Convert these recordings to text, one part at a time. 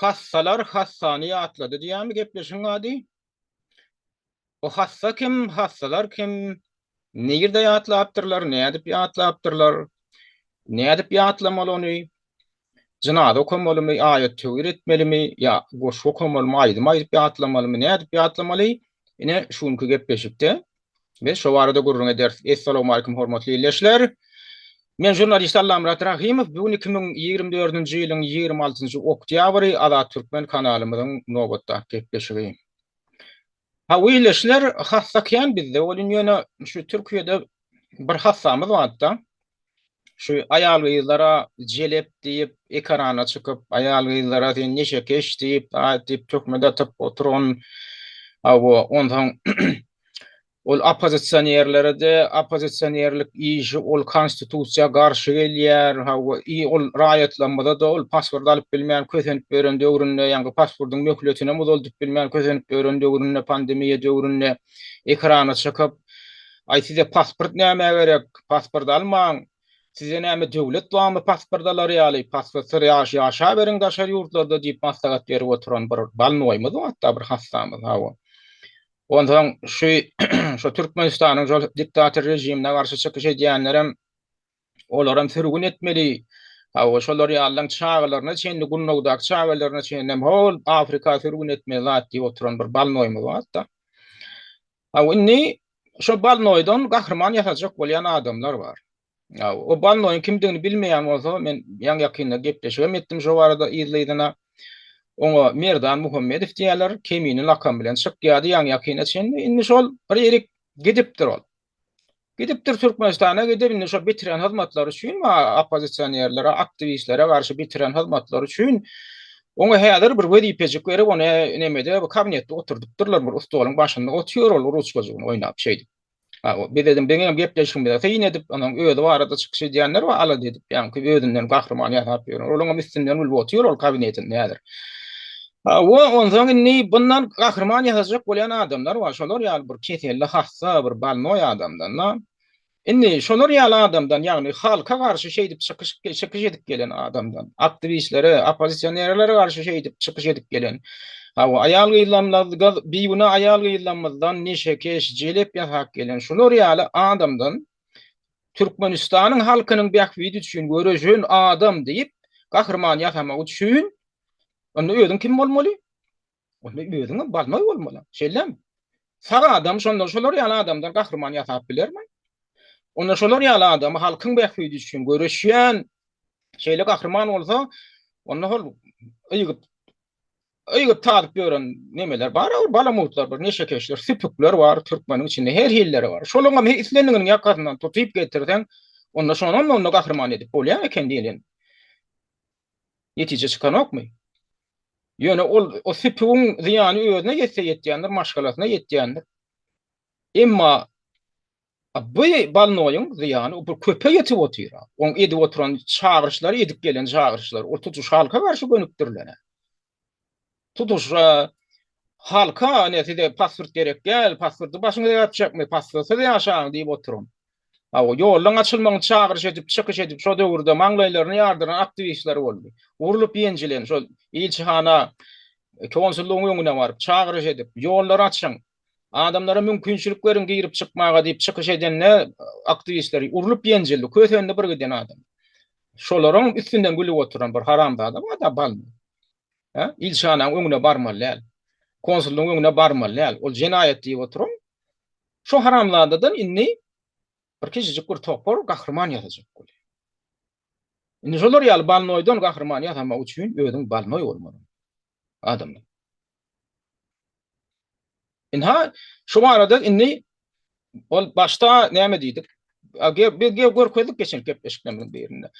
Hassalar hassany ýatlady diýýärmi gepleşigiň ady? O hassa kim, hassalar kim? Nirde ýatlapdyrlar, nädip ýatlapdyrlar? Nädip ýatlamaly ony? Jynaza okamalymy, aýat-töwir etmelimi, ýa goşgy okamalymy, aýdym aýdyp ýatlamalymy, nädip ýatlamaly? Ine, şu günki gepleşikde Biz şo barada gürrüň ederis. Essalamualeýkum hormatly ildeşler. Men žurnalist Allamyrat Rahymow. Bu gün iki müň ýigrimi dördünji ýylyň ýigrimi altynjy oktýabry Azat Türkmen kanalymyzyň nobatdaky gepleşigi. Hawa ildeşler, hassa kän bizde welin ýöne şu Türkiýede bir hassamyz barda. şu aýal gyzlara jelep diýip ekarana çykyp aýal gyzlara sen neşekeş diýip aýt diýip töhmet atyp oturan awo onsoň ol oppozisionerlerde oppozisionerlik işi ol konstitusiýa garşy gelýär hawa i ol raýatlarymyza da ol pasport alyp bilmän kösenip ýören döwründe ýaňky pasportyň möhletinem uzaldyp bilmän kösenip ýören döwründe pandemiýa döwründe ekrana çykyp Aý size pasport nämä gerek, pasport almaň, size näme döwlet barmy pasport alar ýaly, pasportsyz ýaşaberiň daşary ýurtlarda diýip maslahat berip oturan bir balnogymyz bar hatda bir hassamyz hawa. Onsoň şu şu Türkmenistanyň şol diktator režimine garşy çykyş edýänlerem Olaram sürgün etmeli. Hawa, şolar ýalylaň çagalaryna çenli, Gunnawdaky çagalaryna çenlem hol Afrika sürgün etmeli zat diýip oturan bir balnoýumyz bar-da. Hawa, indi şo balnoýdan gahryman ýasajak bolýan adamlar bar. Hawa, o balnoýuň kimdigini bilmeýän bolsa, men ýaňy-ýakynda gepleşigem etdim şo barada yzly-yzyna. Oňa Merdan Muhammedow diýýärler, Kemine lakamy bilen çykýardy ýaňy-ýakyna çenli. Indi şol bir erik gidipdir ol. Gidipdir Türkmenistana gidip indi şo bitiren hyzmatlary üçin oppozisionerlere, aktiwistlere garşy bitiren hyzmatlary üçin Oňa häzir bir wezipejik berip, ony nemede, bu kabinetde oturdypdyrlar, bir stoluň başynda otyr ol ruçkajygyny oýnap şeýdip. Ha, biz dedim, beň hem gepleşigimize syn edip, onuň özi barada çykyş edýänler we alada edip, ýaňky özünden gahryman ýasap ýören. Olaň hem üstünden gülüp otyr ol kabinetinde häzir. Hawa, onsoň indi bundan gahryman ýasajak bolýan adamlar bar, şolar ýaly bir keselle hassa, bir bolnoý adamdan-da. Indi şolar ýaly adamdan, ýagny halka garşy şeýdip çykyş çykyş edip gelen adamdan, aktiwistlere, oppozisionerlere garşy şeýdip çykyş edip gelen, hawa, aýal-gyzlarymyz, bigünä aýal-gyzlarymyzdan neşekeş, jelep ýasap gelen şular ýaly adamdan Türkmenistanyň halkynyň bähbidi üçin göreşen adam diýip gahryman ýasamak üçin Onda özüň kim bolmaly? Onda özüňem balnoý bolmaly. Şeýlemi? Sag adam şonda şolar ýaly adamdan gahryman ýasap bilermi? Onda şolar ýaly adamy halkyň bähbidi üçin göreşýän şeýle gahryman bolsa, onda hol ýygyp ýygyp tazyp ýören nemeler bar, bir balamutlar, bir neşekeşler, süpükler bar türkmeniň içinde her hilleri bar. Şolaryň hem islendiginiň ýakasyndan tutup getirseň, onda şonam onda gahryman edip bolýar eken diýilýän. netije çykanokmy? Ýöne ol o süpügiň zyýany özüne ýetse ýetýändir, maşgalasyna ýetýändir. Emma bu balnoýyň zyýany bir köpe ýetip otyr. Oň edip oturan çagyryşlary, edip gelen çagyryşlary, ol tutuş halka garşy gönükdirilen. Tutuşra halka ine size pasport gerek däl, pasporty başyňyza ýapjakmy, pasportsyz ýaşaň diýip oturan. Hawa, ýoldan açylmagyny çagyryş edip, çykyş edip şo döwürde maňlaýlaryny ýardyran aktiwistler boldy. Urlup-ýenjilen şo ilçihana, konsullygyň öňüne baryp, çagyryş edip, ýollary açyň, Adamlara mümkinçilik beriň girip çykmaga diýip çykyş edende aktiwistler urlup ýenjildi. Kösendi bir giden adam. Şolaryň üstünden gülüp oturan bir haramzada bar da bal. He? Ilçananyň öňüne barmaly däl. Konsullyň öňüne barmaly däl. Ol jenaýat diýip oturan. Şu haramzadadan indi bir kiçijik bir topar gahryman ýazajak bolýar. Indi şolar ýaly balnoýdan gahryman ýasamak üçin özüň balnoý bolmaly. adamlar. Inha şu barada indi ol başda näme diýdik? Biz görkezdik geçen gepleşiklerimiziň birinde.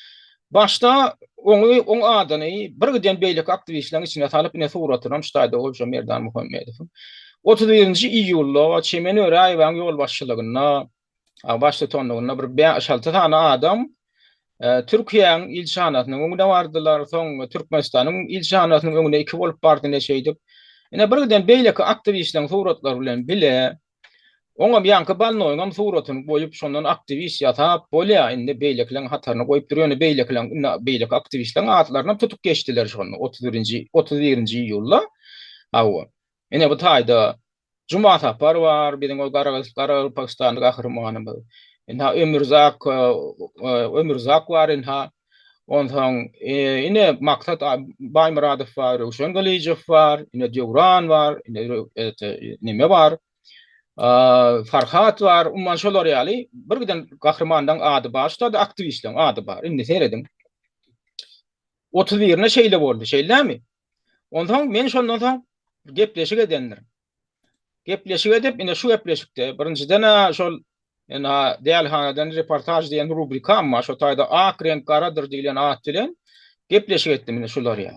Başda oňy, oň adyny bir giden beýleki aktiwistleriň içine salyp, ine suratyny hem ştaýda goýşam Merdan Muhammedowyň. 31-nji iýulda Çemen Öräýewäň ýolbaşçylygynda Waşingtonda bir bäş-alty sany adam Türkiýäň ilçihanasynyň öňüne bardylar, soň Türkmenistanyň ilçihanasynyň öňüne iki bolup bardy ne şeýdip. Ine birden beýleki aktiwistleriň suratlary bilen bile oňam ýaňky bannoýyňam suratyny goýup, şondan aktiwist ýasap bolýar, indi beýlekileriň hataryna goýup dur, ýöne beýlekileriň indi beýleki aktiwistleriň atlarynam tutup geçdiler şonda otuz birinji otuz birinji iýulda. Hawa. Ine bu taýda Jumasapar bar, biziň ol garagaz, garagylpagystanly gahrymanymyz. Ynha, Ömürzak, Ömürzak bar ynha. Onsoň, ine, Maksat Baýmyradow bar, Röwşen Gylyjow bar, ine, Döwran bar, ine, ete, neme bar, Farhat bar, umuman, şolar ýaly birgiden gahrymanyň ady bar, şular-da aktiwistleriň ady bar. Indi serediň. Otuz birine şeýle boldy, şeýlemi? Onsoň men şondan soň gepleşik edendirin. Gepleşik edip, ine şu gepleşikde birinjiden şol ina dälhanadan reportaj diýen rubrikam bar. Şo taýda ak reňk garadyr diýlen at bilen gepleşik etdim ine şular ýa.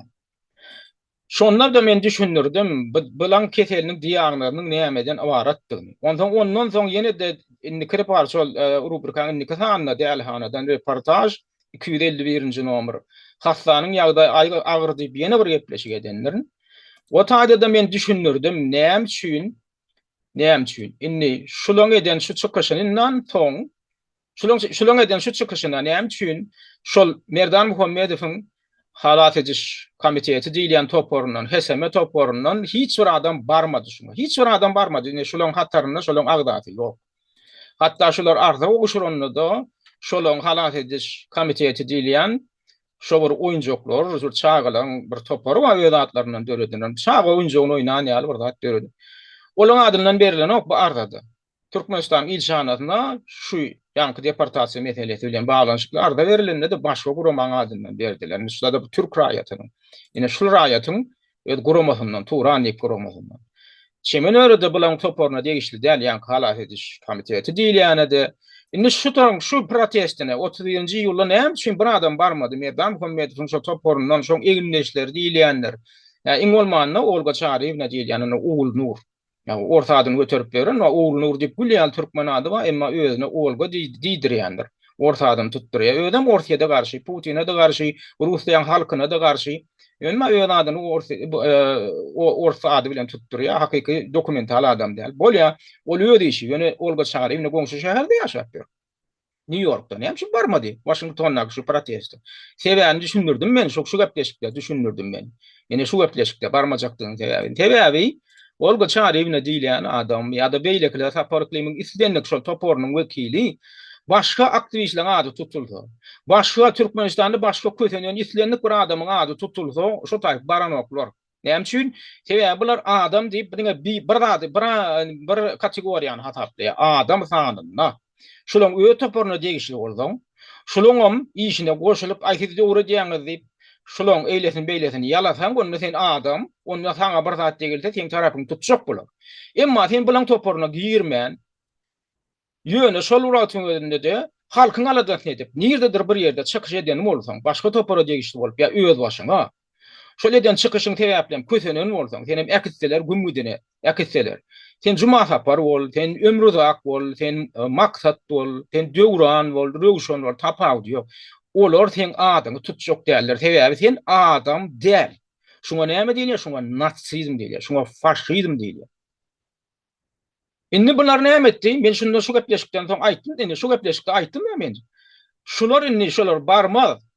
Şonda da men düşündirdim, bilan keseliniň diagnozynyň nämeden ybaratdygyny. Onsoň ondan soň ýene-de indiki reportaj şol e, rubrikanyň indiki sanynda dälhanadan reportaj iki ýüz elli birinji nomer, hassanyň ýagdaýy aýgy agyr diýip ýene bir gepleşik edendirin. O taýda-da men düşündirdim, näme üçin, näme üçin. Indi şulaň eden şu çykyşyndan soň, şulaň şulaň eden şu çykyşyna näme üçin şol Merdan Muhammedowyň halas ediş komiteti diýilýän toparyndan, HSM toparyndan hiç bir adam barmady şuňa. Hiç bir adam barmady. Indi şulaň hatarynda şolaň agzasy ýok. Hatda şular arza gowşuranda-da, şolaryň halas ediş komiteti diýilýän şo bir oýunjaklar, bir çagalaryň bir topary bar, öz adlaryndan döredilen, çaga oýunjagyny oýnan ýaly bir zat döredip, olaryň adyndan berilenok bu arzada. Türkmenistanyň ilçihanasyna şu ýaňky deportasiýa meselesi bilen baglanyşykly arza berilende-de başga guramanyň adyndan berdiler. Indi şular-da bu türk raýatynyň, ine şul raýatyň Öz guramasyndan, Turanlik guramasyndan. Çemenörede bulaň toparyna degişli däl ýaňky halas ediş komiteti diýilýänede. Indi şu toň şu protestine otuz birinji iýulda näme üçin bir adam barmady? Merdan Muhammedowyň şo toparyndan şoň egindeşleri diýilýänler. Ýa iň bolmanda Olga Çaryýewna diýilýän indi Ogulnur. Ýagny ors adyny göterip beren we Oglnur diýip gül ýaly türkmen ady bar, emma özüne Olga diýdirýändir. Ors adyny tutdurýar. Özem Orsýede garşy, Putine-de garşy, Russiýaň halkyna-da garşy. Emma öz adyny ors ady bilen tutdurýar, hakyky dokumental adam däl. Bolýa, ol öz işi. Ýöne Olga Çaryýewna goňşy şäherde ýaşap ýör. Nýu-Ýorkda näme üçin barmady Waşingtondaky şu proteste? Sebäbini düşündirdim men şu gepleşikde düşündirdim men. Ine şu gepleşikde barmajakdygynyň sebäbini. Sebäbi Olga Çaryýewna diýilýän adam ýa-da beýlekiler Sapar Yklymyň islendik şol toparynyň wekili başga aktiwistleriň ady tutulsa, başga Türkmenistanda başga kösenen islendik bir adamyň ady tutulsa şo taýyp baranoklar. Näme üçin? Sebäbi bular adam diýip bir diňe bir zady, bir bir kategoriýany hasaplaýar. Adam sanynda. Şulaň öz toparyna degişli bolsaň, şulaňam işine goşulyp, aý siz öwredýäňiz diýip, şulaň eýlesini-beýlesini ýalasaň, onda sen adam, onda saňa bir zat degilse, seň tarapyňy tutjak bular. Emma sen bulaň toparyna girmän, Ýöne şol wagtyň özünde-de halkyň aladasyny edip, nirdedir bir ýerde çykyş eden bolsaň, başga topara degişli bolup ýa özbaşyňa, şol eden çykyşyň sebäplem kösenen bolsaň, senem äkitseler gümmüdine äkitseler, sen Jumasapar bol, sen Ömruzak bol, sen Maksat bol, sen Döwran bol, Röwşen bol, tapawudy ýok. Olar seň adyňy tutjak däldir. Sebäbi sen adam däl. Şuňa näme diýilýär? Şuňa natsizm diýilýär. Şuňa faşizm diýilýär. Indi bular näme etdi? Men şunda şu gepleşikden soň aýtdym, indi şu gepleşikde aýtdym-da men. Şular indi şolar barmaz.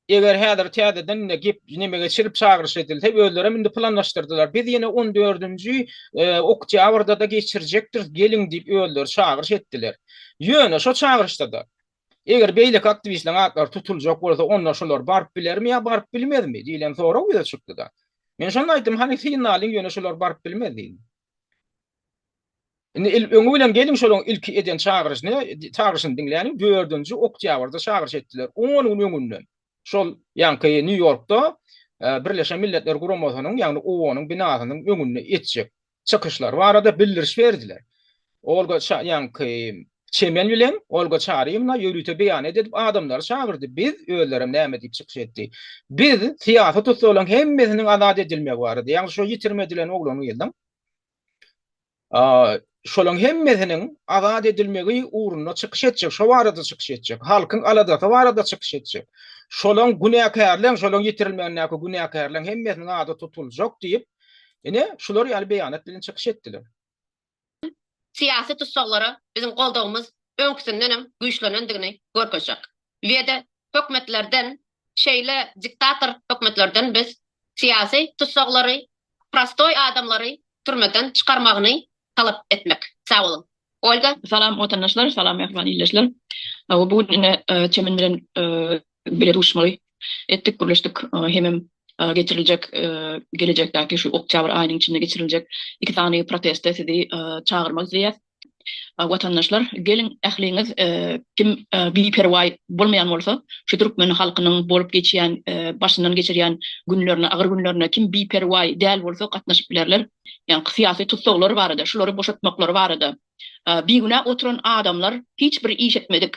Eger häzir täzeden indi gep neme geçirip çagyryş edilse, özlerem indi planlaşdyrdylar. Biz ýene on dördünji e, oktýabrda-da geçirjekdiris, geliň diýip özleri çagyryş etdiler. Ýöne şo çagyryşda-da Eger beýleki aktiwistleriň atlary tutuljak bolsa, onda şolar baryp bilermi ýa baryp bilmezmi? diýlen sorag ýüze çykdy-da. Men şonda aýtdym, hany synlalyň, ýöne şolar baryp bilmez diýdim. Indi il öňi bilen geliň şolaryň ilki eden çagyryşyny, çagyryşyny diňläliň, dördünji oktýabrda çagyryş etdiler, on gün öňünden. Şol ýaňky Nýu-Ýorkda Birleşen Milletler Guramasynyň, ýagny OON-yň binasynyň öňünde etjek çykyşlary barada bildiriş berdiler. Olga Çaýanki çemen bilen Olga Çaryýewna ýörite beýanat edip adamlary çagyrdy. Biz, özlerem näme diýip çykyş etdi. Biz syýasy tussaglaryň hemmesiniň azat edilmegi barada, ýagny şo ýitirim edilen oglanyňyzyň, şolaryň hemmesiniň azat edilmegi ugrunda çykyş etjek, şo barada çykyş etjek, halkyň aladasy barada çykyş etjek. Şolaryň günäkärleň, şolaryň ýitirilmegindäki günäkärleň hemmesiniň ady tutuljak diýip, Ine, şular ýaly beýanat bilen çykyş etdiler. Syýasy tussaglara biziň goldawymyz öňküsinden hem güýçlenendigini görkezjek. Weda hökmetlerden, şeýle diktator hökmetlerden biz syýasy tussaglary, prostoý adamlary türmeden çykarmagyny talap etmek. Sag boluň. Olga. Salam watandaşlar salam mähriban ildeşler bu gün ine çemen bilen bile duşmaly etdik gürleşdik hemem geçiriljek gelejekdäki şu oktýabr aýynyň içinde geçiriljek iki sany proteste sizi çagyrmak isleýäs watandaşlar geliň ähliňiz kim biperwaý bolmaýan bolsa şu türkmen halkynyň bolup geçýän başyndan geçirýän günlerine agyr günlerine kim biperwaý däl bolsa gatnaşyp bilerler ýa-da syýasy tussaglar barada, şulary boşatmaklary barada, bigünä oturan adamlar hiç bir iş etmedik,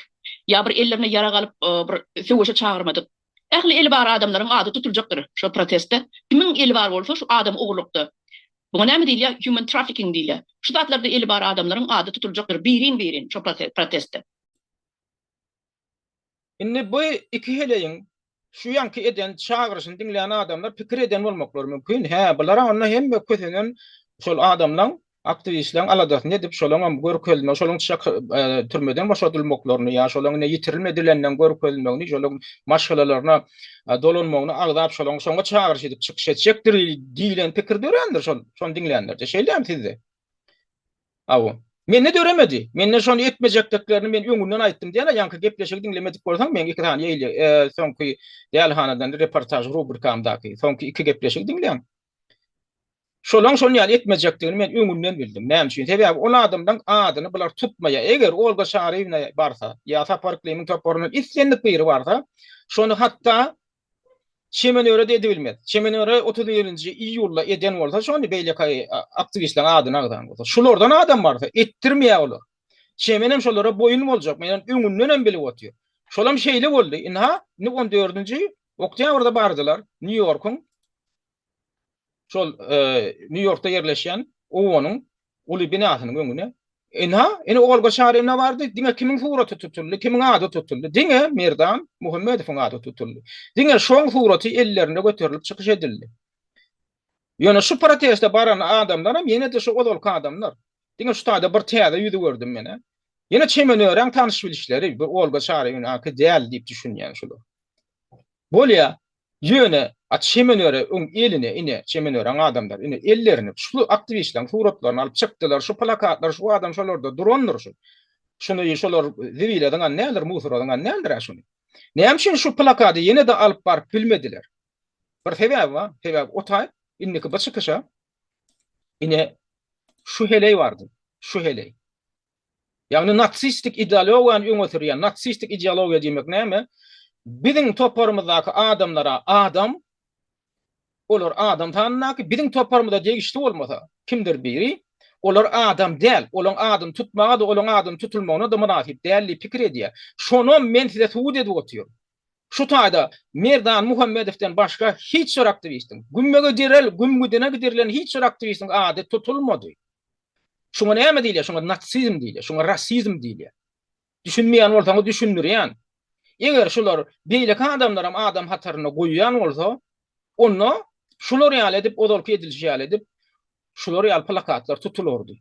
ýa bir ellerine ýarag alyp bir söweşe çagyrmadyk, ähli eli bar adamlaryň ady tutuljakdyr şo protestde, kimiň eli bar bolsa şu adam ogurlykda, buňa näme diýilýär, human trafficking diýilýär, şu zatlarda eli bar adamlaryň ady tutuljakdyr birin-birin şo protestde. Indi bu iki heleýiň şu ýanky eden çagyryşyny diňlän adamlar pikir eden bolmaklary mümkin, hä, bular-a onda hemme kösenen şol adamlaň, aktiwistleň aladasyny edip, şolaňam görkezme, şolaň çyk, türmeden boşadylmaklaryny ýa şolaň ine ýitirilme dilenden görkezmegini, şolaň maşgalalaryna dolanmagyny agzap, şolaň şoňa çagyryş edip çykyş etjekdir diýlen pikir dörändir şol, şony diňlänlerde. Şeýdämi sizde? Hawa. Mende döremedi. Mende şony etmejekdiklerini men öňünden aýtdym diýýän-ä, ýaňky gepleşigi diňlemedik bolsaň, meň iki sany ýeýle, soňky Dälihanadan reportaž rubrikamdaky soňky iki gepleşigi diňläň. Şolaň şon ýaly etmejekdigini men öňünden bildim. Näme üçin? Sebäbi ol adamlaň adyny bular tutmaýar. Eger Olga Çaryýewna barsa ýa Sapar Yklymyň toparyndan islendik biri barsa, şony hatda Çemen öre-de edibilmez. Çemen öre otuz birinji iýulda eden bolsa şony beýleki aktiwistleriň adyny agzan bolsa. Şulardan adam barsa etdirmeýär olar. Çemen hem şolara boýun boljak. Men ony öňünden hem bilip otyryn. Şol hem şeýle boldy. Indi-ha, indi on dördünji oktýabrda bardylar Nýu-Ýorkuň şol Nýu-Ýorkda ýerleşýän obanyň uly binasynyň öňüne Ene, ene ogal bir şaýyr ene bardy, diňe kimiň suraty tutuldy, kimiň ady tutuldy, diňe Merdan Muhammedowyň ady tutuldy. Diňe şoň suraty ellerinde göterilip çykyş edildi. Ýöne şu proteste baran adamlar hem ýene-de şu ozalky adamlar. Diňe şu taýda bir täze ýüzi gördüm menä. Ýene çemen örän tanyş bilişleri, bir Olga Şaryýewnäki däl diýip düşünýän şular. Bolýa, Ýöne, at Şemenöre öň eline, ine, Şemenöräň adamlary, ine, ellerine şul aktiwistleriň suratlaryny alyp çykdylar, şu plakatlar, şu adam şolarda durandyr şu. Şuny şolar zibile zyňan däldir, musora zyňan däldir-ä şuny. Näme üçin şu plakady ýene-de alyp baryp bilmediler? Bir sebäbi bar, sebäbi otaýyp, indiki bir çykyşa, ine, şu heleý bardy, şu heleý. Ýagny natsistik idealogiýany öňe sürýän, natsistik ideologiýa diýmek näme? Biziň toparymyzdaky adamlara adam, olar adam sanyndaky, biziň toparymyza degişli bolmasa, kimdir biri, olar adam däl, olaň adyny tutmaga-da, olaň adyny tutulmagyna-da mynasyp däl diýip pikir edýär. Şonam men size subut edip otyryn. Şu taýda Merdan Muhammedowdan başga hiç bir aktiwistiň, gümmege direl, gümmüdine gidirilen hiç bir aktiwistiň ady tutulmady. Şuňa näme diýilýär? Şuňa natsizm diýilýär, şuňa rasizm diýilýär. Düşünmeýän bolsaňyz düşündirýän. Eger şular beýleki adamlaram adam hataryna goýýan bolsa, onda şular ýaly edip, ozalky edilişi ýaly edip, şular ýaly plakatlar tutulardy.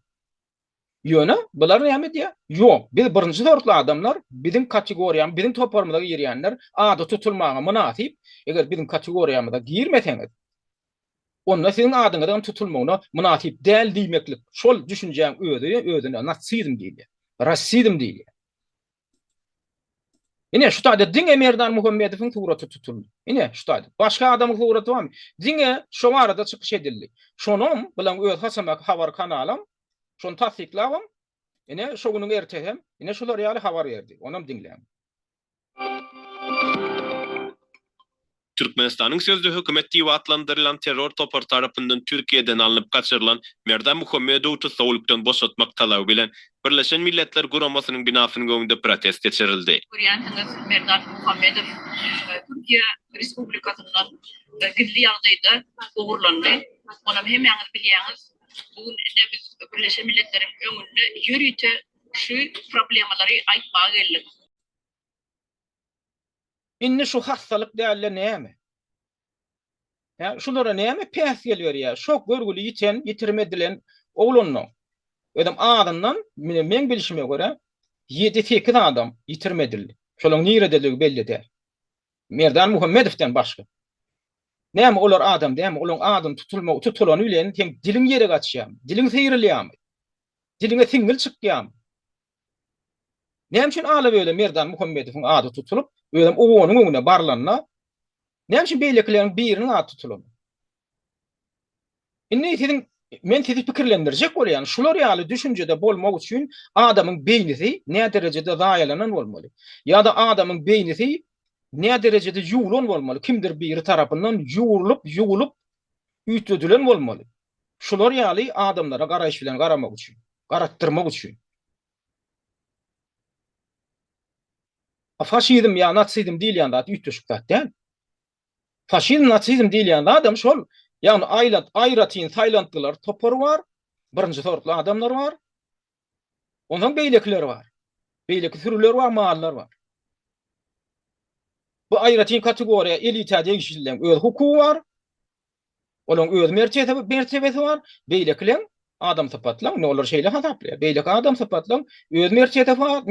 Ýöne bular näme diýýär? Ýok, biz birinji sortly adamlar, biziň kategoriýa, biziň toparymyza girýänler ady tutulmaga mynasyp. Eger biziň kategoriýamyza girmeseňiz, onda siziň adyňyzyň tutulmagyna mynasyp däl diýmeklik şol düşünjäň özi özüne natsizm diýilýär, rassizm diýilýär. Ine, şu taýda diňe Merdan Muhammedowyň suraty tutuldy. Ine, şu taýda. Başga adamyň suraty barmy? Diňe şo barada çykyş edildi. Şonuň bilen öz hasamaky habar kanalam şony tassyklabam, ine, şo günüň ertesi hem, ine, şular ýaly habar berdi. Onam diňläň. Türkmenistanyň sözde hökümet diýip atlandyrylan terror topary tarapyndan Türkiýeden alnyp gaçyrylan Merdan Muhammedowy tussaglikden boşatmak talaby bilen Birleşen Milletler Guramasynyň binasynyň öňünde protest geçirildi. Görýänsiňiz, Merdan Muhammedow Türkiýe Respublikasyndan gizli ýagdaýda ogurlandy. Onam hemmäňiz bilýäňiz, bu gün ine biz Birleşen Milletleriň öňünde ýörite Şu problemalary aýtmaga geldik. Indi şu hassalyk dälde näme? Hä, şulara näme päsgel berýär? Şo görgüli ýiten, ýitirim edilen oglanlaň, özem azyndan, mine meň bilşime görä, ýedi-sekiz adam ýitirim edildi. Şolaň nirededigi belli däl. Merdan Muhammedowdan başga. Näme olar adam dälmi? Olaň adyny tutulma tutulany bilen seň diliň ýere gaçýarmy? Diliň syýrylýarmy? Diliňe siňňil çykýamy? Näme üçin ala-böle Merdan Muhammedowyň ady tutulyp, özem owanyň öňüne barylanda, näme üçin beýlekileriň biriniň ady tutulanok? Indi siziň men sizi pikirlendirjek bolýan, şular ýaly düşünjede bolmak üçin adamyň beýnisi näderejede zaýalanan bolmaly? Ýa-da adamyň beýnisi näderejede ýuwlan bolmaly, kimdir biri tarapyndan ýuwrulyp, ýuwulyp üýtgedilen bolmaly? Şular ýaly adamlara garaýyş bilen garamak üçin, garatdyrmak üçin. Faşizm ýa nasizm diýilýän zat üýtgeşik zat däl. Faşizm, nasizm diýilýän zadam şol, ýagny aýratyn saýlantgylar topary bar, birinji sortly adamlar bar, Onsoň beýlekiler bar. Beýleki sürüler bar, mallar bar. Bu aýratyn kategoriýa elita degişlileriň öz hukugy bar. Olaryň öz mertebesi bar. Beýlekileriň, adam sypatlaryň, indi olar şeýle hasaplaýar, beýleki adam sypatlaryň öz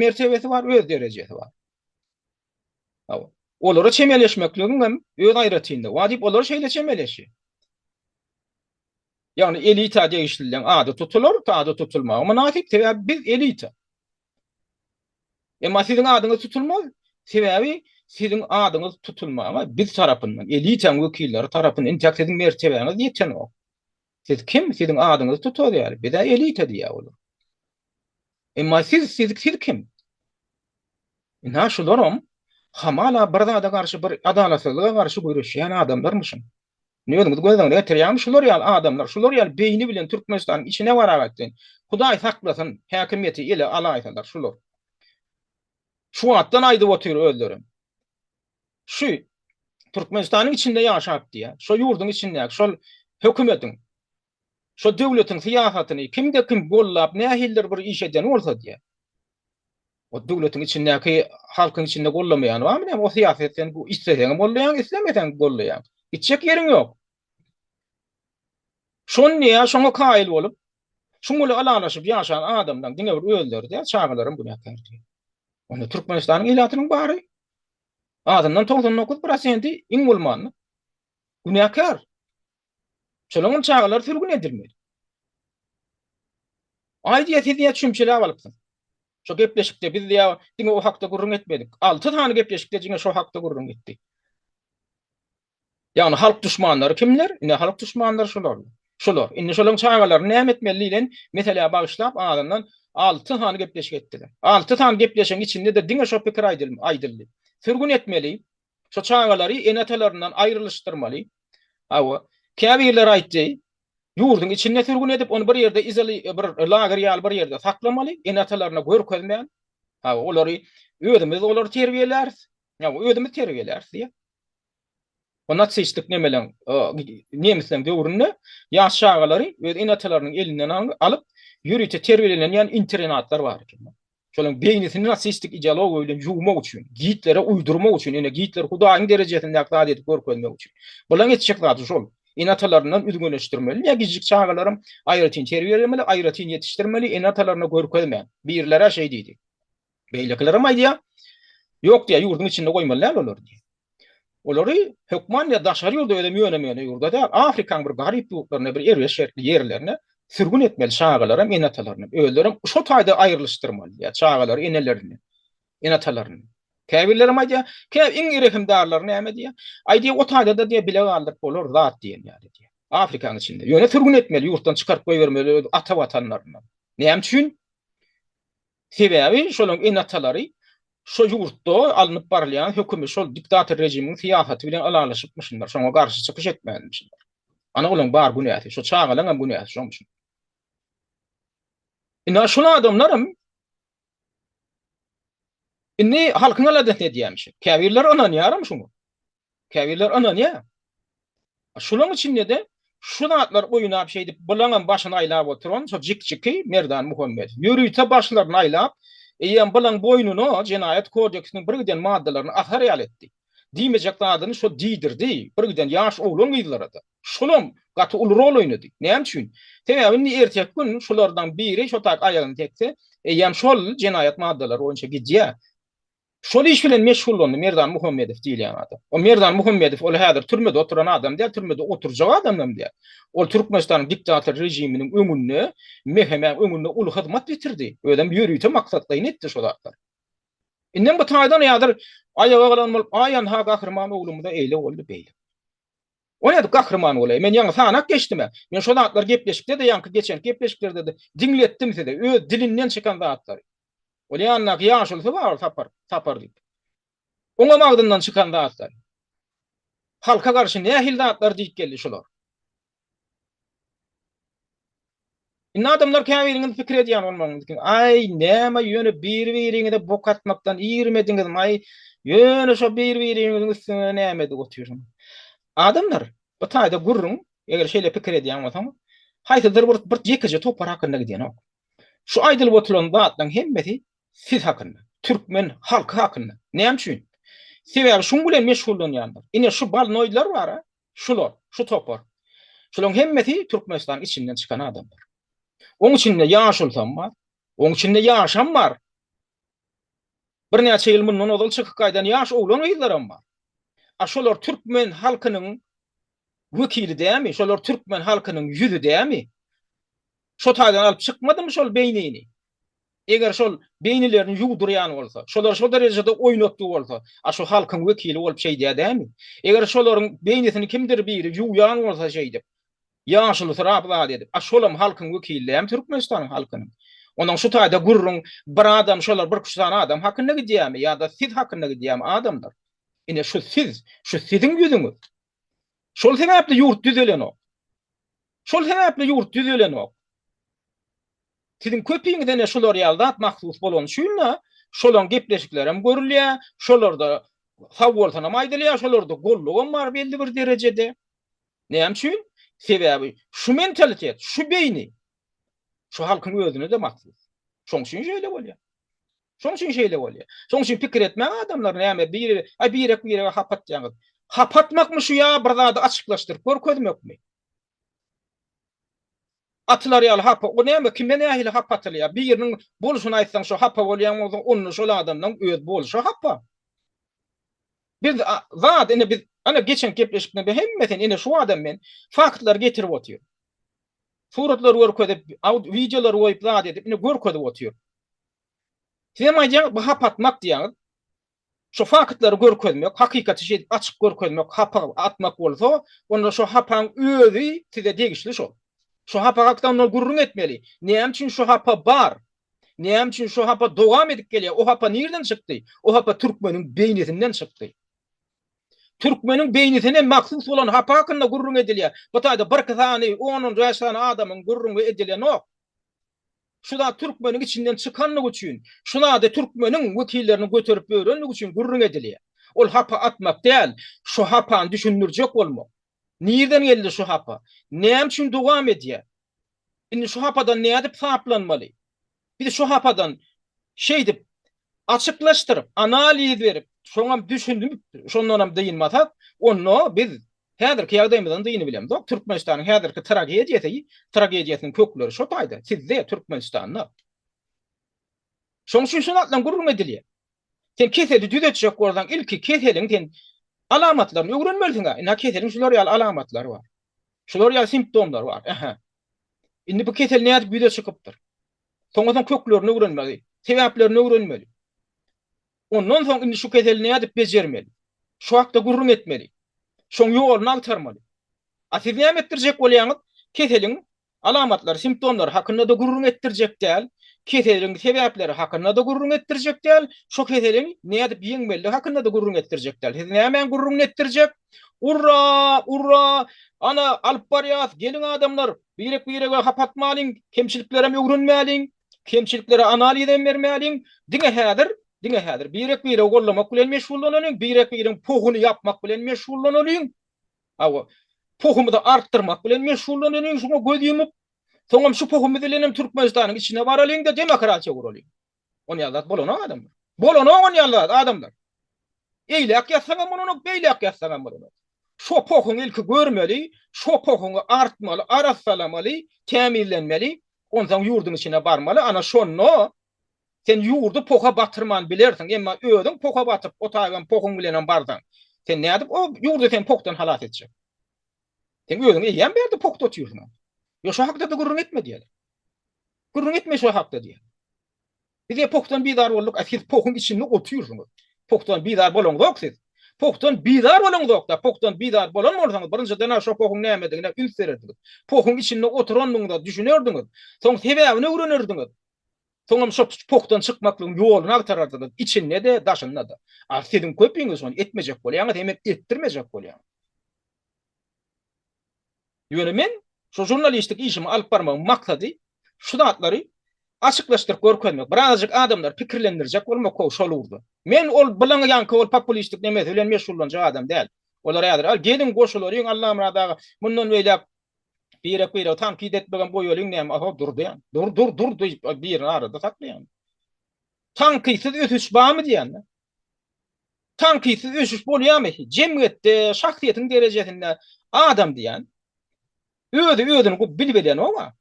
mertebesi bar, öz derejesi bar. Olara çemeleşmekligiň hem öz aýratynlygy bar diýip, olar şeýle çemeleşýär. Ýagny elita degişlileň ady tutular, ady tutulmagy mynasyp, sebäbi biz elita. Emma siziň adyňyz tutulmaz, sebäbi siziň adyňyz tutulmaga biz tarapyndan, elitaň wekilleri tarapyndan entäk siziň mertebäňiz ýetenok. Siz kim? Siziň adyňyzy tutarys ýaly. Biz-ä elita diýýär olar. Emma siz, siz, siz kim? Ynha şularam hamala bir zada garşy, bir adalatsyzlyga garşy göreşýän adamlarmyşyn. Indi özüňiz göz öňüne getirýäňmi? Şular ýaly adamlar, şular ýaly beýni bilen Türkmenistanyň içine baragat sen. Hudaý saklasyn, häkimiýeti ele alaýsalar şular. Şu wagtdan aýdyp otyr özlerem. şu Türkmenistanyň içinde ýaşap diýýär. Şo ýurduň içindäki şol hökümetiň şo döwletiň syýasatyny kimde kim gollap nähildir bir iş edýän bolsa diýýär. O döwletiň içindäki halkyň içinde gollamaýan barmy näme o syýasy sen isleseň golleýaň islemeseň golleýaň. Gitjek ýeriň ýok. Şony ýa şoňa kaýyl bolup, şuň bilen ylalaşyp ýaşan adamlaň diňe bir özleri-de, çagalaram günäkär diýýär. Onda Türkmenistanyň ilatynyň bary, azyndan togsan dokuz prosenti iň bolmanda günäkär. Şolaňam çagalary sürgün edilmeli. Aýdýa siz ýa çümçeläp alypsyňyz. Şo gepleşikde biz ýa diňe o hakda gürrüň etmedik. Alty sany gepleşikde jiňe şo hakda gürrüň etdik. Ýagny halk duşmanlary kimler? Ine halk duşmanlary şular. Şular. Indi şolaryň çagalaryny näme etmeli diýlen meselä bagyşlap azyndan alty sany gepleşik etdiler. Alty sany gepleşigiň içinde-de diňe şo pikir aýdyldy. Sürgün etmeli, şo çagalary ene-atalaryndan aýrylyşdyrmaly. Hawa, käbirleri aýtdy, ýurduň içinde sürgün edip, ony bir ýerde izoly bir lager ýaly bir ýerde saklamaly, ene-atalaryna görkezmän. Hawa, olary özümiz olary terbiýeläris. Ýa özümiz terbiýeläris diýip. O natsistlik nemeleň, nemisleň döwründe ýaş çagalary öz ene-atalarynyň elinden alyp, ýörite terbiýelenýän internatlar bar eken. Şolaryň beýnisini natsistlik ideologiýa bilen ýuwmak üçin, Gitlere uýdurmak üçin, ine Gitler hudaýyň derejesindäki zat edip görkezmek üçin. Bularyň etjek zady şol. Ene-atalaryndan üzňeleşdirmeli. Ýa kiçijik çagalaram aýratyn terbiýelemeli, aýratyn ýetişdirmeli, ene-atalaryna görkezmän. Birler-ä şeý diýdi. Beýlekilerem aýdýar, Ýok diýýär, ýurduň içinde goýmaly däl olary diýýär. Olary hökman ýa daşary ýurda özem ýönemeýän ýurda däl, Afrikaň bir garyp ýurtlaryna, bir erbet şertli ýerlerine sürgün etmeli çagalaram, ene-atalaryny. Özlerem şo taýda aýrylyşdyrmaly diýýär, çagalary enelerini, ene-atalaryny. Käbirlerem aýdýar, Kä iň rehimdarlary näme diýýär, Aý diýýär, o taýda-da diýýär, bile galdyryp bolar zat diýen ýaly diýýär. Afrikaň içinde. Ýöne sürgün etmeli, ýurtdan çykaryp goýbermeli öz ata Watanlaryna. Näme üçin? Sebäbi şolaryň ene-atalary şo ýurtda alnyp barylýan hökümi şol diktator rejimiň syýasaty bilen ylalaşypmyşynlar, şoňa garşy çykyş etmänmişinler. Ana olaň bar günäsi, şo çagalaňam günäsi şomuşyn. Indi şol adamlaram indi halkyň aladasyny edýämişin. Käbirleri ynanýaram şuňa. Käbirler ynanýar. Şulaň içinde-de şu zatlar oýnap şeýdip bulaňam başyny aýlap oturan şo jikjiki Merdan Muhammedow. Ýörite başlaryny aýlap, eýýäm bulaň boýnuna jenaýat kodeksiniň birgiden maddalaryny asar ýaly etdi. Diýmejek zadyny şo diýdirdi, birgiden ýaş oglan-gyzlara-da. Şulam gaty uly rol oýnady. Näme üçin? Sebäbi indi erteki gün şulardan biri şo taýyp aýagyny tekse, eýýäm şol jenaýat maddalary boýunça gidýär. Şol iş bilen meşgullandy Merdan Muhammedow diýilýän adam. O Merdan Muhammedow ol häzir türmede oturan adam däl, türmede oturjak adam hem däl. Ol Türkmenistanyň diktator režiminiň öňünde, MHM-iň öňünde uly hyzmat ýetirdi. Özem ýörite maksatlaýyn etdi şo zatlar. Indem bu taýdan häzir aýaga galan bolup, aý anha gahryman oglumyza eýle boldy, beýle. O nädip gahryman bolaýa? Men ýaňy sanap geçdim-ä. Men şo zatlary gepleşikde-de, ýaňky geçenki gepleşiklerde-de diňletdim size, öz dilinden çykan zatlary. Ol ýanyndaky ýaşulysy bar, ol Sapar, Sapar diýip. Oňam agzyndan çykan zatlar. Halka garşy nähili zatlar diýip geldi şular. Indi adamlar käbiriňiz pikir edýän bolmalyňyz ki, aý, näme ýöne bir-biriňize bok atmakdan irmediňizmaý, ýöne şo bir-biriňiziň üstüne näme edip otyrsyň. Adamlar, bir taýda gürrüň, eger şeýle pikir edýän bolsaňyz, haýsydyr bir bir ýekeje topar hakynda gidýänok. Şu aýdylyp oturylan zatlaryň hemmesi siz hakynda, türkmen halky hakynda. Näme üçin? Sebäbi şuň bilen meşgullanýandyr. Ine şu balnoýdlar bar-a, Şular, şu topar. Şularyň hemmesi Türkmenistanyň içinden çykan adamlar. Oň içinde ýaşulsam bar. Oň içinde ýaşam bar. Birnäçe ýyl mundan ozal çykyp gaýdan ýaş oglan-gyzlaram bar. A şolar türkmen halkynyň wekili dämi? Şolar türkmen halkynyň ýüzi dämi? Şo taýdan alyp çykmadymy şol beýnini? Eger şol beýnilerini ýuwdurýan bolsa, şolar şo derejede oýnatgy bolsa, a şu halkyň wekili bolup şeýdýär dämi? Eger şolaryň beýnisini kimdir biri ýuwýan bolsa şeýdip, ýaşulysyrap zat edip, a şolam halkyň wekili dämi Türkmenistanyň halkynyň? Ondan şu taýda gürrüň bir adam şolar bir küçe sany adam hakynda gidýärmi ýa-da siz hakynda gidýärmi adamlar? Ine şu siz, şu siziň ýüzüňiz. Şol sebäpli ýurt düzelenok. Şol sebäpli ýurt düzelenok. Siziň köpiňize ne şular ýaly zat mahsus bolany üçin-de, şolaň gepleşikleri hem görülýär, şolarda sag bolsun hem aýdylýar, şolarda golluk hem bar belli bir derejede. Näme üçin? Sebäbi şu mentalitet, şu beýni şu halkyň özüne-de mahsus. Şoň üçin şeýle bolýar. Şoň üçin şeýle bolýar. Şoň üçin pikir etmäň adamlar näme biri aý birek birege hap atýaňyz. Hap atmakmy şu ýa bir zady açyklaşdyryp görkezmekmi? Atylar ýaly hapa o näme kime nähili hap atylýar biriniň bolşuny aýtsaň şu hapa bolýan bolsaň onda şol adamdan öz bolşy hapa. Biz zat indi biz ana geçen gepleşikde be hemmesini indi şu adam men faktlar getirip otyr. Suratlar görkezip, aud videolar goýup zat edip indi görkezip otyr. Sizem aýdýaňyz, bu hapa atmak diýýäňiz. Şu faktlary görkezmek, hakykaty şeýdip açyk görkezmek hapa atmak bolsa, onda şu hapaň özi size degişli şol. Şu hapa hakda onda gürrüň etmeli. Näme üçin şu hapa bar? Näme üçin şu hapa dowam edip gelýär? O hapa nireden çykdy? O hapa türkmeniň beýnisinden çykdy. Türkmeniň beýnisine mahsus bolan hapa hakynda gürrüň edilýär. Bu taýda birki sany, on-on bäş sany adamyň gürrüňi edilýänok. Şu zat türkmeniň içinden çykandygy üçin, şu zady türkmeniň wekilleriniň göterip ýörendigi üçin gürrüň edilýär. Ol hapa atmak däl, şu hapany düşündirjek bolmak. Nirden geldi şu hapa? Näme üçin dowam edýär? Indi şu hapadan nädip saplanmaly? Biz şu hapadan şeýdip açyklaşdyryp, analiz berip, şoňam düşünip, şondanam dynmasak, onda biz Häzirki ýagdaýymyzdan dyny bilemzok. Türkmenistanyň häzirki tragediýasy, tragediýasynyň kökleri şo taýda, sizde, Türkmenistanda. Şoň üçin şu zatlaryň gürrüňi edilýär. Sen keseli düzetjek bolsaň, ilki keseliň sen alamatlaryny öwrenmelisiň-ä. Ine, keseliň şular ýaly alamatlary bar. Şular ýaly simptomlary bar. Ähä. Indi bu kesel nädip ýüze çykypdyr? Soňra sen köklerini öwrenmeli, sebäplerini öwrenmeli. Ondan soň indi şu keseli nädip bejermeli? Şu hakda gürrüň etmeli. Şoň ýoluny agtarmaly. A siz näme etdirjek bolýaňyz? Keseliň alamatlary, simptomlary hakynda-da gürrüň etdirjek däl, keseliň sebäpleri hakynda-da gürrüň etdirjek däl, şo keseliň nädip ýeňmelidigi hakynda-da gürrüň etdirjek däl. Siz nämäň gürrüňini etdirjek? Urra! Urra! Ana, alyp barýas! Geliň adamlar! Birek-birege hap atmalyň! Kemçiliklerem öwrenmäliň! kemçiliklere analiz hem bermäliň. Diňe häzir, diňe häzir birek-biregi gollamak bilen meşgullanalyň, birek-biregiň pohuny ýapmak bilen meşgullanalyň. Hawa, pohumyzy artdyrmak bilen meşgullanalyň, şuňa göz ýumup, soňam şu pohumyz bilen hem Türkmenistanyň içine baralyň-da, demokratiýa guralyň. Onýaly zat bolanok adamlar. Bolanok onýaly zat adamlar. Eýläk ýatsaň hem bolanok, beýläk ýatsaň hem bolanok. Şo pohuňy ilki görmeli, şo pohuňy artmaly, arassalamaly, tämizlenmeli, Onsoň ýurduň içine barmaly, ana şonda sen ýurdy poha batyrman bilersiň, emma özüň poha batyp, o taýy hem pohuň bilenem barsaň, sen nädip o ýurdy sen pohdan halas etjek? Sen özüň eýýäm bärde pohda otyrsyň. Ýok, şo hakda-da gürrüň etme diýerler. Gürrüň etme şo hakda diýer. Bize pohdan bizar bolduk a siz pohun içinde otyrsyňyz. Pohdan bizar bolaňzok siz. Pohdan bizar bolaňzokda pohdan bizar bolan bolsaňyz birinjidena şo pohun nämedigine üns bererdiňiz. Pohun içinde oturandygyňyza düşünerdiňiz. Soň sebäbini öwrenerdiňiz. Soňam şo pohdan çykmaklygyň ýoluny agtarardyňyz içinde-de daşynda-da. A siziň köpiňiz şony etmejek bolýaňyz hemem etdirmejek bolýaňyz. Ýöne men şu žurnalistlik işimi alyp barmagyň maksady şu zatlary açyklaşdyryp görkezmek, birazajyk adamlary pikirlendirjek bolmak how şol ugurda. Men ol bilaňy ýaňky ol populistik nemesi bilen meşgullanjak adam däl. Olar häzir, al, geliň goşularyň Allamyrat aga, mundan beýläk birek-birege tankyt etmegem goýalyň näme, a-ha Durdyýan. Dur, dur, dur diýip birini arada saklaýan. Tankytsyz ösüş barmy diýýän-de. Tankytsyz ösüş bolýarmy? Jemgyýetde, şahsyýetiň derejesinde adam diýen özi özüni gowy bilip elenoga.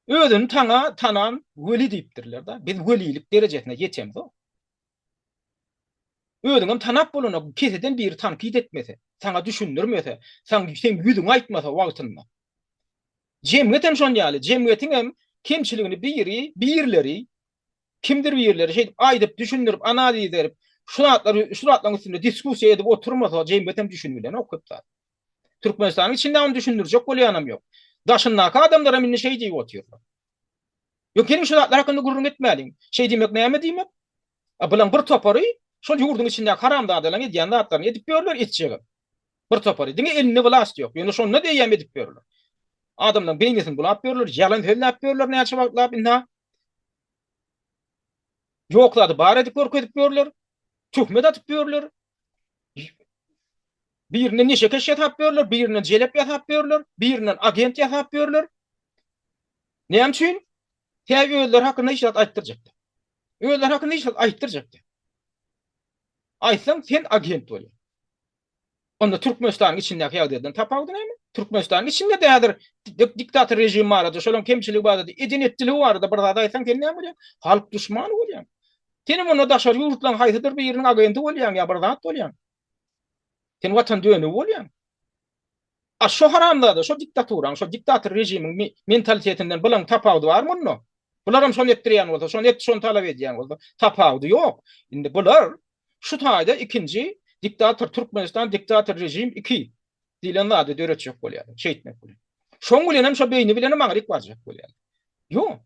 Özüni tana tanan weli diýipdirler da. Biz welilik derejesine ýetemzok. Özüňem tanap bolana keseden biri tankyt etmese, saňa düşündirmese, saň seň ýüzüňe aýtmasa wagtynda. Jemgyýetem şon ýaly, jemgyýetiňem kemçiligini biri, birleri Kimdir birileri şeýdip aýdyp, düşündirip, analiz berip, şu zatlary, şu zatlaryň üstünde diskussiýa edip oturmasa, jemgyýetem düşünbilenok köp zat. Türkmenistanyň içinde ony düşündirjek bolýanam ýok. Daşyndaky adamlar hem indi şeý diýip otyrlar. Ýok, geliň şu zatlar hakynda gürrüň etmäliň. Şeý diýmek näme diýmek? A, bularyň bir topary şol ýurduň içindäki haramzadalaryň edýän zatlaryny edip ýörler, etjegem. Bir topary, diňe elinde wlast ýok, ýöne şonda-da eýýäm edip ýörler. Adamlaryň beýnisini bulap ýörler, ýalan sözläp ýörler näçe wagtlap ynha. Ýok zady bar edip görkezip ýörler, töhmet atyp ýörler. Birinden neşekeş ýasap ýörler, birinden jelep ýasap ýörler, birinden agent ýasap ýörler. Näme üçin? Tä özleri hakynda hiç zat aýtdyrjakdy. Özleri hakynda hiç zat aýtdyrjakdy. Aýtsaň sen agent bolýaň. Onda Türkmenistanyň içindäki ýagdaýdan tapawudy näme? Türkmenistanyň içinde dädir diktator režim barada, şolaň kemçiligi barada, eden etdiligi barada bir zat aýtsaň sen näme bolýaň? Halk duşmany bolýaň. Senem onda daşary ýurtlaň haýsydyr biriniň agenti bolýaň ýa bir zat bolýaň. Sen watan dönügi bolýaň. A şo haramzada, şo diktaturaň, şo diktator režimiň mentalitetinden bulaň tapawudy barmy onda? Bularam şony etdirýän bolsa, şony et, şony talap edýän bolsa, tapawudy ýok. Indi bular şu taýda ikinji diktator Türkmenistan diktator režim iki diýlen zady döretjek bolýarlar, şeýtmek bilen. Şoň bilenem şo beýni bilenem aňryk barjak bolýarlar. Ýok.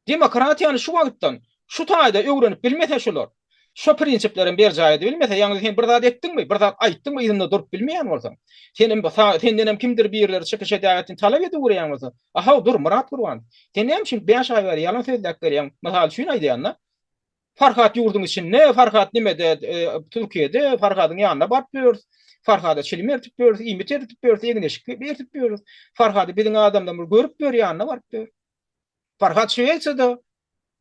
Demokratiýany şu wagtdan, şu taýda öwrenip bilmese şular, şo prinsiplerem berjaý edibilmese, ýagny sen bir zat etdiňmi, bir zat aýtdyňmy yzynda durup bilmeýän bolsaň, senem sa, sendenem kimdir birileri çykyş edäýsin talap ediwreýän bolsa, a-haw dur Myrat Gurbanow, sen näme üçin bäş aý bäri ýalan sözläp gelýäň, mysal üçin aýdýan-da, Farhat ýurduň içinde, Farhat nimede, Türkiýede, Farhadyň ýanyna baryp ýörüs, Farhada çilim ertip ýörüs, iýmit eritip ýörüs, egin-eşik bertip ýörüs, Farhady biziň adamlarymyz görüp ýör, ýanyna baryp ýör. Farhat Şwesiýada.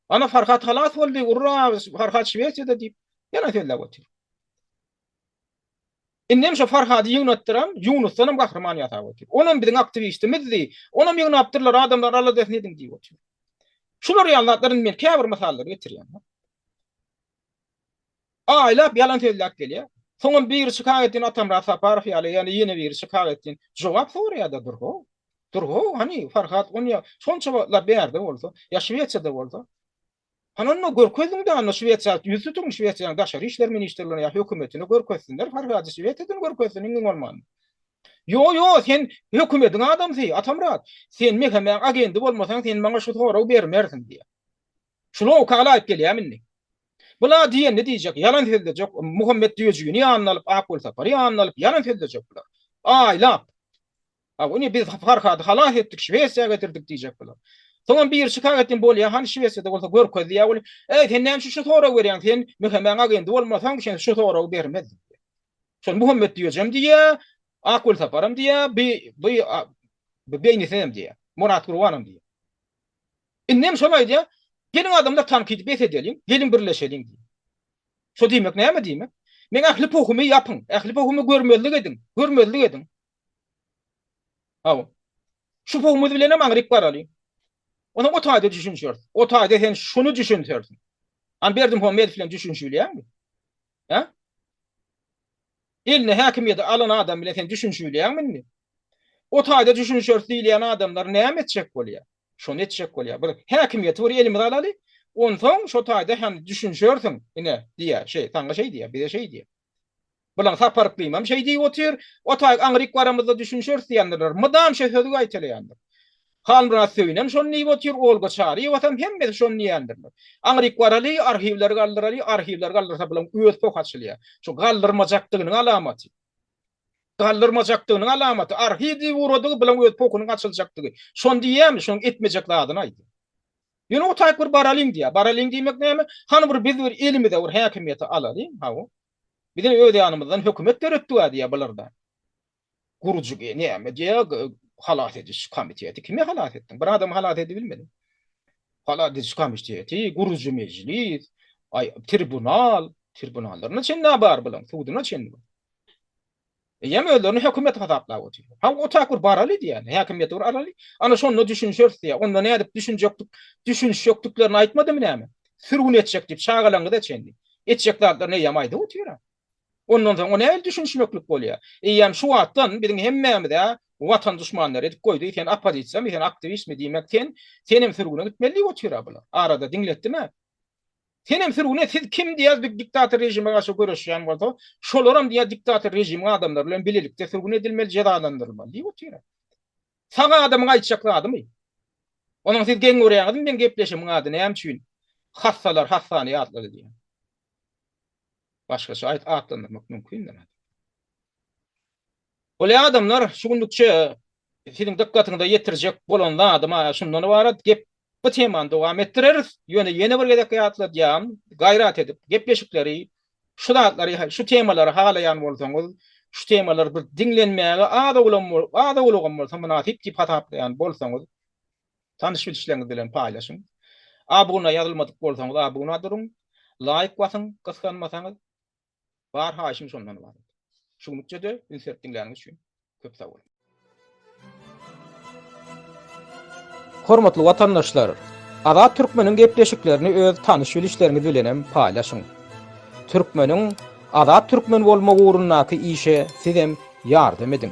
Ana Farhat halas boldy, urra, Farhat Şwesiýada diýip, ýalan sözläp otyr. Indem şo Farhady ýygnatdyran Ýunusdan hem gahryman ýasap otyr. Onam biziň aktiwistimizdi. Onam ýygnapdyrlar, adamlar aladasyny ediň diýip otyr. Şular ýaly zatlar indi men käbir mysallar getirýän. Aýlap ýalan sözläp gelýär. Soňam biri çykak etsin Atamyrat Saparow ýaly ýa-da ýene biri çykak etsin jogap soraýada dur-how. Dur-how hany Farhat Gunýa şonça wagtlap bärde bolsa, ýa Şwesiýada bolsa. Hany onda görkeziň-de onda Şwesiýa ýüz tutuň Şwesiýanyň daşary işler ministrligine ýa hökümetine görkezsinler Farhady Şwesiýadan görkezsin iňňin bolmanda. Ýo-ýo sen hökümediň adamsy Atamyrat. Sen Mehemäň agendi bolmasaň sen maňa şu soragy bermersiň diýýär. Şuny oka alaýyp gelýämi indi? Bula diýenini diýjek, ýalan sözlejek, Muhammet Düýejigini ýanyna alyp, Akgulsapary ýanyna alyp, ýalan sözlejek bular. Aýlap. Hawa, indi biz Farhady halas etdik, Şwesiýa getirdik diýjek bular. Soňam biri çyka gitsin, bolýa, hany Şwesiýada bolsa görkez diýä weli, Äý, sen näme üçin şu soragy berýäň, sen Mehemäň agendi bolmasaň, sen şu soragy bermezdiň. Şony Muhammet Düýejem diýýä, Akgulsaparam diýýä, bi, bi, bi beýnisem diýýä, Murat Gurbanam diýýä. Indi hem şony aýdýar, Geliň adamlar tankydy bes edeliň, geliň birleşeliň diýip. Şo diýmek näme diýmek? Meň ähli pohumy ýapyň, ähli pohumy görmezlik ediň, görmezlik ediň. Hawa. Şu pohumyz bilen hem aňryk baralyň. Onam o taýda düşünişeris. O taýda sen şuny düşünsersiň. An Berdimuhamedow bilen düşünişibilýäňmi? Hä? Eline häkimiýeti alan adam bilen sen düşünişibilýäňmi indi? O taýda düşünişeris diýilýän adamlar näme etjek bolýar? Şony etjek bolýar. Bir häkimiýeti bir elimize alaly, onsoň şo taýda hem düşünişersiň, ine, diýýär. Şeý, saňa şeý diýýär, bize şeý diýýär. Bilaň Sapar yklymam şeý diýip otyr, o taýy aňryk baramyzda düşünişeris diýendirler. Mydam şo sözi gaýtalaýandyr. Halmyrat Söýünem şony diýip otyr, Olga Çaryýewasam, hemmesi şony diýendirler. Aňryk baraly, arhiwleri galdyraly, arhiwleri galdyrsa bulaň öz poh açylýar. Şu galdyrmajakdygynyň alamaty. Galdyrmajakdygynyň alamaty. Arhiw diýip ugradygy bulaň öz pohunyň açyljakdygy. Şony diýýärmi, şonuň etmejek zadyny aýdýar. Ýöne otaýyk bir baralyň diýýär. Baralyň diýmek näme? Hany bir biz bir elimize bir häkimiýeti alalyň, hawa. Bize öz ýanymyzdan hökümet döretdiga diýýär bular-da. Gurjigi näme diýýäg halas ediş komiteti kimi halas etdiň bir adamy halas edibilmediň halas ediş komiteti gurujy mejlis aý tribunal tribunallarna çenli a bar bulaň suduna çenli eýýäm özlerini hökümet hasaplap otyrlar ha o tak bir baraly diýýän häkimiýeti bir araly ana şonda düşünişeris diýýär onda nädip düşünjekdik düşünişjekdiklerini aýtmadymy näme sürgün etjek diýip çagalaňyza çenli etjek zatlaryny eýýäm aýdyp otyr Ondan soň o nähili düşünişmeklik bolýar? Eýýäm şu wagtdan biziň hemmämiz-ä watan duşmanlary edip goýdy, sen oppozisiýamy, sen aktiwistmi diýmek sen, senem sürgüne gitmeli diýip otyr-a bular. Arada diňletdim-ä. Senem sürgüne siz kim diýýär bir diktator režime garşy göreşýän bolsa, şolaram diýýär diktator režimiň adamlary bilen bilelikde sürgün edilmeli, jezalandyrylmaly diýip otyr-a. Sag adamyň aýtjak zadymy? Onuň siz geň görýäňizmi meň gepleşimiň ady näme üçin Hassalar hassany ýatlady diýen? başgaça aýt atlandyrmak mümkindir. Weli adamlar şu günlükçe siziň dykgatyňyza ýetirjek bolan zadym a şundan ybarat, gep bu temany dowam etdireris, ýöne ýene bir gezek ýatladýan, gaýrat edip gepleşikleri şu zatlary şu temalary halaýan bolsaňyz, şu temalar bir diňlenmäge az-owlam az-owlagam bolsa mynasyp diýip hasaplaýan bolsaňyz, Tanyş bilişleriňiz bilen paýlaşyň. Abuna ýazylmadyk bolsaňyz abuna duruň. Laýk basyň gysganmasaňyz. Bar haýyşym şondan ybarat. Şu günlükçede üns berip diňläniňiz üçin köp sag boluň. Hormatly watandaşlar! Azat Türkmeniň gepleşiklerini öz tanyş bilişleriňiz bilenem paýlaşyň. Türkmeniň Azat Türkmen bolmagy ugrundaky işe sizem ýardam ediň.